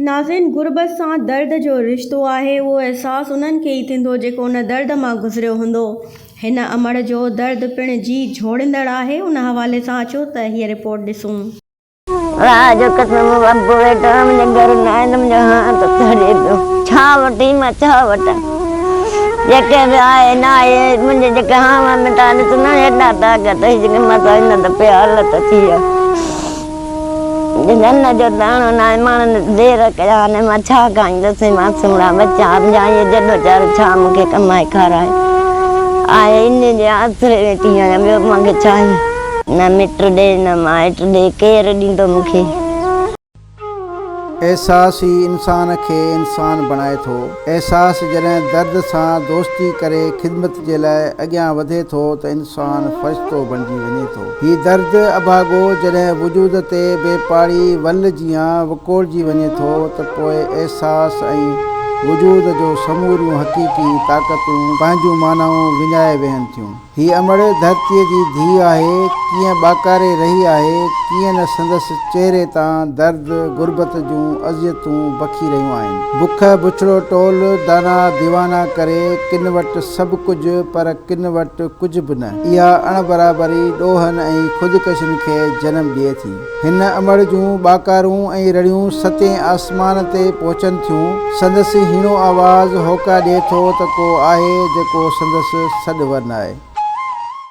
ناظرين! غربت سان درد جو رشتو آهي، اهو احساس انهن کي ئي ٿيندو جيڪو ان درد مان گذريو هوندو. هن امڙ جو درد پڻ جي جهوڙيندڙ آهي، ان حوالي سان اچو ته هيء رپورٽ ڏسون. خدا جو قسم مون ابو ويٺو آهي منهنجي گهر نه آهي ته منهنجو هاند ٿڙي پيو ڇا وٺي مان ڇا وٺان جيڪي به آهي نه آهي منهنجي جيڪي هانوا مٽا ڏس نه هيڏا ٽاڪ اٿئي جيڪي مان سائين نه ته پيا الت ٿي آهي. ڌن جو داڻو ناهي ماڻهن دير ڪيا آهن مان ڇا کائيندس معصومڙا ٻچا همجائي جدوجهد ڇا مون کي ڪمائي کارائي آء انهن جي آسري ويٺي آهيان ٻيو مان کي ڇا نه مٽ ڏي نه مائٽ ڏي ڪير ڏيندو مون کي. احساس ئي انسان کي انسان بڻائي ٿو احساس جڏهن درد سان دوستي ڪري خدمت جي لاء اڳيان وڌي ٿو ته انسان فرشتو بڻجي وڃي ٿو. هي درد اڀاڳو جڏهن وجود تي بي پاڙي ول جيان وڪوڙجي وڃي ٿو ته پوء احساس ۽ وجود جو سموريون حقيقي طاقتون پنهنجون معنائون وڃائي ويهن ٿيون. هي امڙ ڌرتيء جي ڌيء آهي، ڪيئن ٻاڪاري رهي آهي، ڪيئن نه سندس چهري تان درد غربت جون اذيتون بکي رهيون آهن. بک بڇڙو ٽول، دانا ديوانا ڪري، ڪن وٽ سڀ ڪجهه پر ڪن وٽ ڪجهه به نه. اها اڻ برابري ڏوهن ۽ خودڪشين کي جنم ڏئي ٿي. هن امڙ جون ٻاڪارون ۽ رڙيون ستين آسمان تي پهچن ٿيون. سندس هيڻو آواز هوڪا ڏئي ٿو ته ڪو آهي جيڪو سندس سڏ ورنائي.